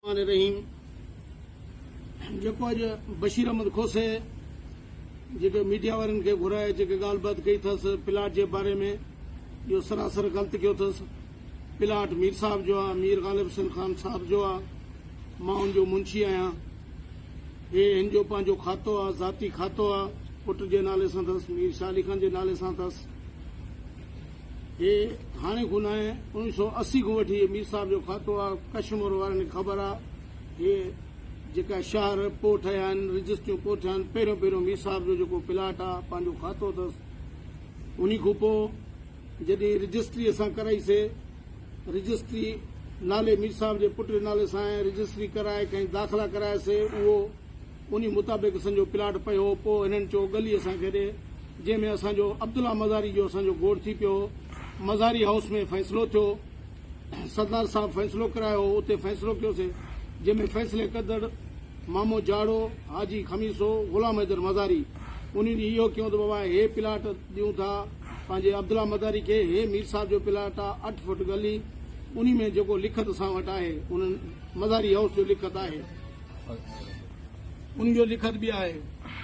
الرحمان الرحيم جيڪو اڄ بشير احمد کوسي جيڪي ميڊيا وارن کي گهرائي جيڪي ڳالهه بات ڪئي اٿس پلاٽ جي باري ۾ اهو سراسر غلط ڪيو اٿس پلاٽ مير صاحب جو آهي مير غالب حسن خان صاحب جو آهي مان ان جو منشي آهيان هي هن جو پنهنجو کاتو آهي ذاتي کاتو آهي پٽ جي نالي سان اٿس مير شاهه علي خان جي نالي سان اٿس هي هاڻي ڪو ناهي اوڻيهه سؤ اسي کان وٺي هي مير صاحب جو کاتو آ ڪشمور وارن کي خبر آ هي جيڪا شهر پوء ٺهيا آهن رجسٽريون پوء ٺهيا آهن پهريون پهريون مير صاحب جو جيڪو پلاٽ آ پنهنجو کاتو اٿس انهي کان پوء جڏهن رجسٽري اسان ڪرائي سي رجسٽري نالي مير صاحب جي پٽ جي نالي سان آهي رجسٽري ڪرائي کائين داخلا ڪرايا سي اهو انهي مطابق اسان جو پلاٽ پيو پو هنن چو ڳلي اسان کي ڏي جنهن ۾ اسان جو عبدالله مزاري جو اسان جو گوڙ ٿي پيو هو مزاري هائوس ۾ فيصلو ٿيو سردار صاحب فيصلو ڪرايو هو اتي فيصلو ڪيو سي جنهن ۾ فيصلي ڪندڙ مامو جاڙو حاجي خميسو غلام حيدر مزاري انهي ڏينهن اهو ڪيون ته بابا هي پلاٽ ڏيون ٿا پنهنجي عبدالله مزاري کي هي مير صاحب جو پلاٽ آ اٺ فوٽ ڳلي انهي ۾ جيڪو لکت اسان وٽ آهي انهن مزاري هائوس جو لکت آهي ان جو لکت به آهي.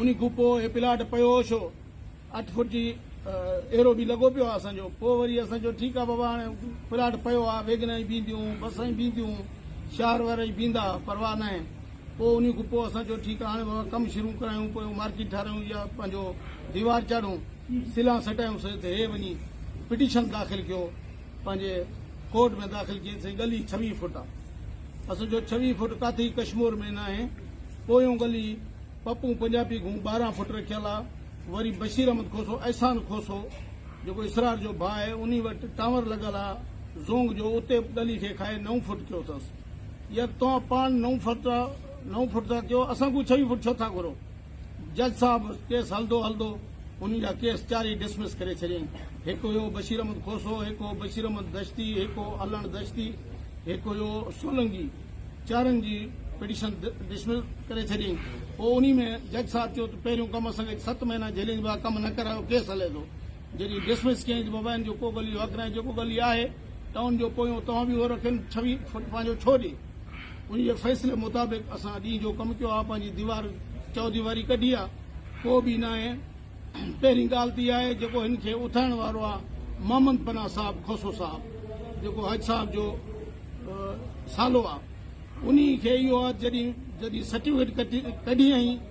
انهي کون پوء هي پلاٽ پيو هو ڇو؟ اٺ فوٽ جي ايرو به لڳو پيو آهي اسان جو. پوء وري اسان چيو ٺيڪ آهي بابا هاڻي پلاٽ پيو آهي ويگنون ئي بيهنديون، بسون ئي بيهنديون، شهر وارا ئي بيهندا پرواهه ناهي. پوء انهي کون پوء اسان چيو ٺيڪ آهي هاڻي بابا ڪم شروع ڪرايون پيون مارڪيٽ ٺارايون يا پنهنجو ديوار چاڙهون، سلان سٽايون سي ته هي وڃي پٽيشن داخل ڪيو پنهنجي ڪورٽ ۾ داخل ڪيئن سائين ڳلي ڇويهه فوٽ آ اسان جو ڇويهه فوٽ ڪاٿي ڪشمور ۾ ناهي پويون ڳلي پپون پنجابي گهون ٻارهن فوٽ رکيل آ وري بشير احمد کوسو احسان کوسو جيڪو اسرار جو ڀاء آهي انهي وٽ ٽاور لڳل آ زونگ جو اتي به ڳلي کي کائي نو فوٽ ڪيو اٿس يار توهان پاڻ نو فوٽ نو فوٽ ٿا ڪيو اسان کان ڇويهه فوٽ ڇو ٿا گهرو جج صاحب ڪيس هلندو هلندو انهن جا ڪيس چارئي ڊسمس ڪري ڇڏيائين. هڪ هيو بشير احمد کوسو، هڪ هو بشير احمد دشتي، هڪ هو علڻ دشتي، هڪ هيو سولنگي، چارن جي پٽيشن ڊسمس ڪري ڇڏيائين. پوء انهي ۾ جج صاحب چيو ته پهريون ڪم اسان کي ست مهينا جيلين جي ڀا ڪم نه ڪرايو ڪيس هلي ٿو. جڏهن ڊسمس ڪيائين ته بابا ان جو ڪو غلي حق ناهي جيڪو غلي آهي ته ان جو پويون توهان به هو رکين ڇوي ڦٽ پنهنجو ڇو ڏي. انهيء فيصلي مطابق اسان اڄ ئي جو ڪم ڪيو آهي، پنهنجي ديوار، چوديواري، ڪڍي آهي، ڪو به ناهي. پهرين ڳالهه ته اها آهي، جيڪو هن کي اٿائڻ وارو آهي، محمد پناهه صاحب کوسو صاحب، جيڪو حج صاحب جو سالو آهي، انهيء کي اهو آهي، جڏهن جڏهن سرٽيفڪيٽ ڪڍي ۽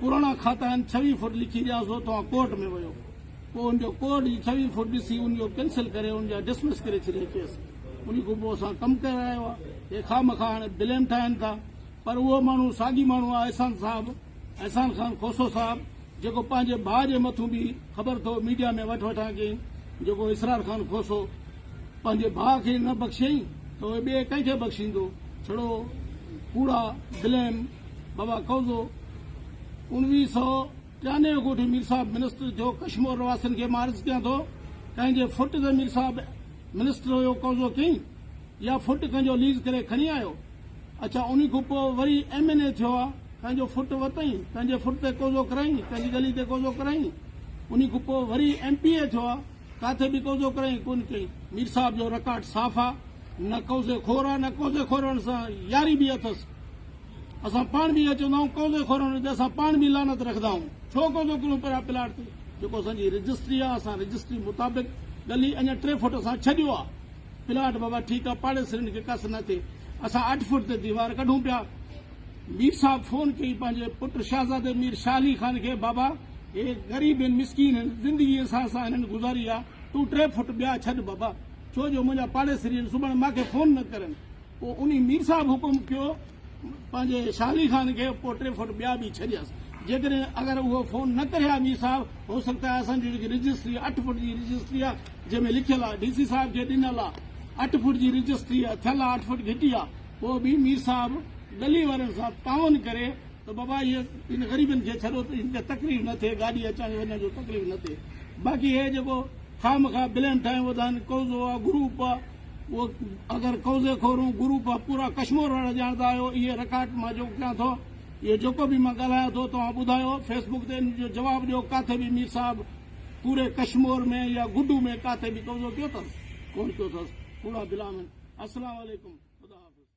پراڻا کاتا آهن ڇويهه فوٽ لکي ڏيان سو توهان ڪورٽ ۾ ويو پوء ان جو ڪورٽ جي ڇويهه فوٽ ڏسي ان جو ڪينسل ڪري ان جا ڊسمس ڪري ڇڏي ڪيس ان کان پوء اسان ڪم ڪرايو آهي هي خام خا هاڻي بليم ٺاهين ٿا پر اهو ماڻهو ساڳي ماڻهو آهي احسان صاحب احسان خان کوسو صاحب جيڪو پنهنجي ڀاء جي مٿون به خبر اٿو ميڊيا ۾ وٺ وٺان ڪيئي جيڪو اسرار خان کوسو پنهنجي ڀاء کي نه بخشيئي ته اهي ٻئي ڪنهن کي بخشيندو ڇڙو ڪوڙا بليم بابا قوضو اوڻويهه سئو ٽيانوي جو ڳوٺ مير صاحب منسٽر ٿيو ڪشمور رهواسين کي مان عرض ڪيان ٿو ڪنهن جي فٽ تي مير صاحب منسٽر هيو قوضو ڪيئي يا فٽ ڪنهن جو ليز ڪري کڻي آيو اڇا انهي کان پوء وري ايم اين اي ٿيو آ ڪنهن جو فٽ ورتئين ڪنهن جي فٽ تي قوضو ڪرايئين ڪنهن جي ڳلي تي قوضو ڪرايئين انهي کان پوء وري ايم پي اي ٿيو آ ڪاٿي به قوضو ڪرائين ڪونه ڪئي. مير صاحب جو رڪارڊ صاف آ. نه قوضي خور آ نه قوضي خورن سان ياري به اٿس. اسان پاڻ به اهو چوندا آهيون قوضي خورن تي اسان پاڻ به لعنت رکندا آهيون. ڇو قوضو ڪريون پريا پلاٽ تي. جيڪو اسان جي رجسٽري آ اسان رجسٽري مطابق ڳلي اڃا ٽي فوٽ اسان ڇڏيو آ. پلاٽ بابا ٺيڪ آ پاڙيسرين کي ڪس نه ٿئي. اسان اٺ فوٽ تي ديوار ڪڍون پيا. مير صاحب فون ڪئي پنهنجي پٽ شهزادي مير شاهه علي خان کي، بابا! هي غريب هن، مسڪين هن، زندگي اسان سان هنن گذاري آ، تون ٽي فوٽ ٻيا ڇڏ بابا، ڇو جو منهنجا پاڙيسري هن، سڀاڻي مان کي فون نه ڪرن. پوء انهي مير صاحب حڪم ڪيو پنهنجي شاهه علي خان کي، پوء ٽي فوٽ ٻيا به ڇڏيس. جيڪڏهن اگر اهو فون نه ڪري ها مير صاحب، هو سگهتا آهي اسان جي جيڪي رجسٽري اٺ فوٽ جي رجسٽري آ، جنهن ۾ لکيل آ، ڊي سي صاحب کي ڏنل آ، اٺ فوٽ جي رجسٽري آ، ٿيل آ، اٺ فوٽ گهٽي آ، پوء به مير صاحب ڳلي وارن سان تعاون ڪري ته بابا اهي هن غريبن کي ڇڏو ته هن کي تڪليف نه ٿئي گاڏي اچڻ وڃڻ جو تڪليف نه ٿئي باقي هي جيڪو خامخواه بليم ٺاهيون وڌا آهن قوضو آ گروپ آ اهو اگر قوضي خورون گروپ آ پورا ڪشمور وارا ڄاڻندا آهيو اهي رڪارڊ مان جو ڪيان ٿو اهو جيڪو به مان ڳالهايان ٿو توهان ٻڌايو فيسبوڪ تي ان جو جواب ڏيو ڪاٿي به مير صاحب پوري ڪشمور ۾ يا گڊو ۾ ڪاٿي به قبضو ڪيو اٿس؟ ڪونه ڪيو اٿس، ڪوڙا دل آهن. السلام عليڪم، خدا حافظ.